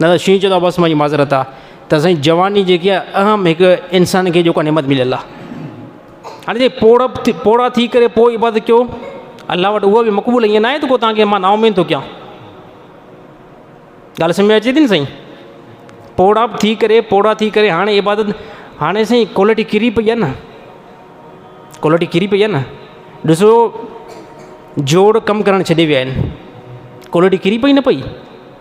نه ته شينهن چوندو آ بس منهنجي معذرت آ ته سائين جواني جيڪي آ اهم هڪ انسان کي جيڪو آ نعمت مليل آ هاڻي جي پوڙهپ ٿي پوڙها ٿي ڪري پوء عبادت ڪيو الله وٽ هو به مقبول ائين ناهي ته تانکي مان نا اميد ٿو ڪيان ڳالهه سمجهه ۾ اچي ٿي نه سائين پوڙهپ ٿي ڪري پوڙها ٿي ڪري هاڻي عبادت هاڻي سائين ڪوالٽي ڪري پئي آ نه ڪوالٽي ڪري پئي آ نه ڏسو جوڙ ڪم ڪرڻ ڇڏي ويا آهن ڪوالٽي ڪري پئي نه پئي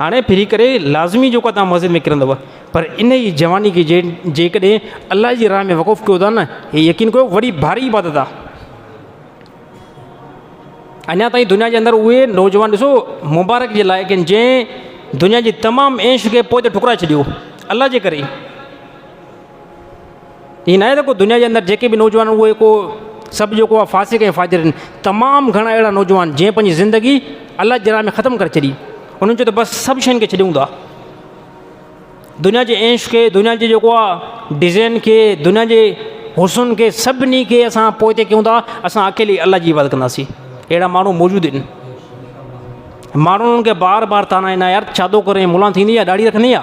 هاڻي ڦري ڪري لازمي جيڪو توهان مسجد ۾ ڪرندؤ پر ان ئي جواني کي جي جيڪڏهن الله جي راهه ۾ وقف ڪيو ٿا نه هي يقين ڪيو وڏي ڀاري عبادت آهي. اڃا تائين دنيا جي اندر اهي نوجوان ڏسو مبارڪ جي لائق آهن جنهن دنيا جي تمام عيش کي پوئتي ٺڪرائي ڇڏيو الله جي ڪري. ائين ناهي ته ڪو دنيا جي اندر جيڪي به نوجوان آهن اهي ڪو سڀ جيڪو آهي فاسق ۽ فاجر آهن. تمام گهڻا اهڙا نوجوان جنهن پنهنجي زندگي الله جي راهه ۾ ختم ڪري ڇڏي. انهن چيو ته بس سڀ شين کي ڇڏيون ٿا. دنيا جي عيش کي، دنيا جي جيڪو آهي ڊزين کي، دنيا جي حسن کي سڀني کي اسان پوئتي ڪيون ٿا. اسان اڪيلي الله جي عبادت ڪنداسين. اهڙا ماڻهو موجود آهن. ماڻهو انهن کي بار بار طعنا ڏيندا آهن يار ڇا ٿو ڪرين ملان ٿيندين ڇا ڏاڙهي رکندين ڇا؟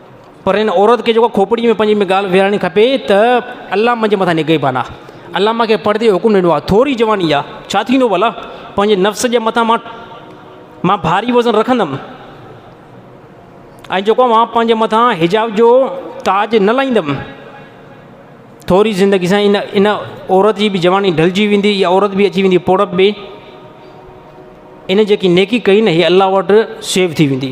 پر ان عورت کي جيڪو کوپڙي ۾ پنهنجي ۾ ڳالهه ويهارڻي کپي ته الله منهنجي مٿان نگهبان آ الله مون کي پڙدي جو حڪم ڏنو آ ٿوري جواني آ ڇا ٿيندو ڀلا پنهنجي نفس جي مٿان مان مان ڀاري وزن رکندم ۽ جيڪو مان پنهنجي مٿان حجاب جو تاج نه لائيندم ٿوري زندگي سان ان ان عورت جي بي جواني ڍلجي ويندي يا عورت بي اچي ويندي پوڙپ بي ان جيڪي نيڪي ڪئي نه هي الله وٽ سيو ٿي ويندي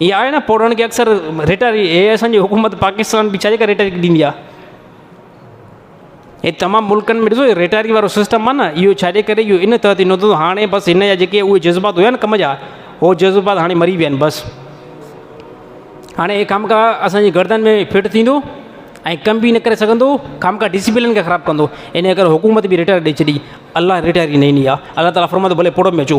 ھي آھي نه پوڙھن کي اڪثر ريٽاري اي اسان جي حڪومت پاڪستان به ڇا جي ڪري ريٽاري ڏيندي آ اي تمام ملڪن ۾ ڏسو ريٽاري وارو سسٽم آ نه ايو ڇا جي ڪري ايو ان تحت ٿيندو ته ھاڻي بس ان جا جيڪي اھي جذبات ھيا نه ڪم جا ھو جذبات ھاڻي مري ويا آھن بس ھاڻي اي ڪم ڪا اسان جي گردن ۾ فٽ ٿيندو ۽ ڪم به نه ڪري سگھندو ڪم ڪا ڊسپلن کي خراب ڪندو ان جي ڪري حڪومت به ريٽاري ڏئي ڇڏي الله ريٽاري نه ڏيني آ الله تعالي فرمائي ٿو ڀلي پوڙھن ۾ اچو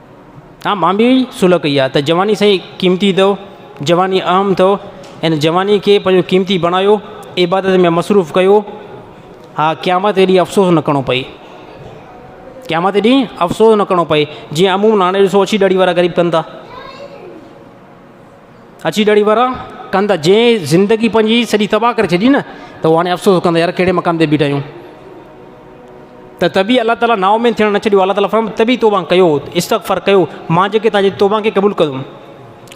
ها مان به اهي صلح ڪئي آهي ته جواني سائين قيمتي اٿو، جواني اهم اٿو ۽ جواني کي پنهنجو قيمتي بڻايو، عبادت ۾ مصروف ڪيو، ها قيامت ڏينهن افسوس نه ڪرڻو پئي، قيامت ڏينهن افسوس نه ڪرڻو پئي، جيئن عمومن هاڻي ڏسو اڇي ڏاڙهي وارا غريب ڪن ٿا. اچي ڏڙي ورا ڪن ته جنهن زندگي پنهنجي سڄي تباهه ڪري ڇڏي نه ته اهو هاڻي افسوس ڪندا يار ڪهڙي مقام تي بيٺا آهيون ته تبي الله تعالٰي نااميد ٿيڻ نه ڇڏيو الله تعالٰي فرمائي تبي توبه ڪيو استغفر ڪيو مان جيڪي تنهنجي توبه کي قبول ڪندم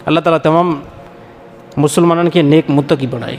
الله تعالٰي تمام مسلمانن کي نيڪ متقي بڻائي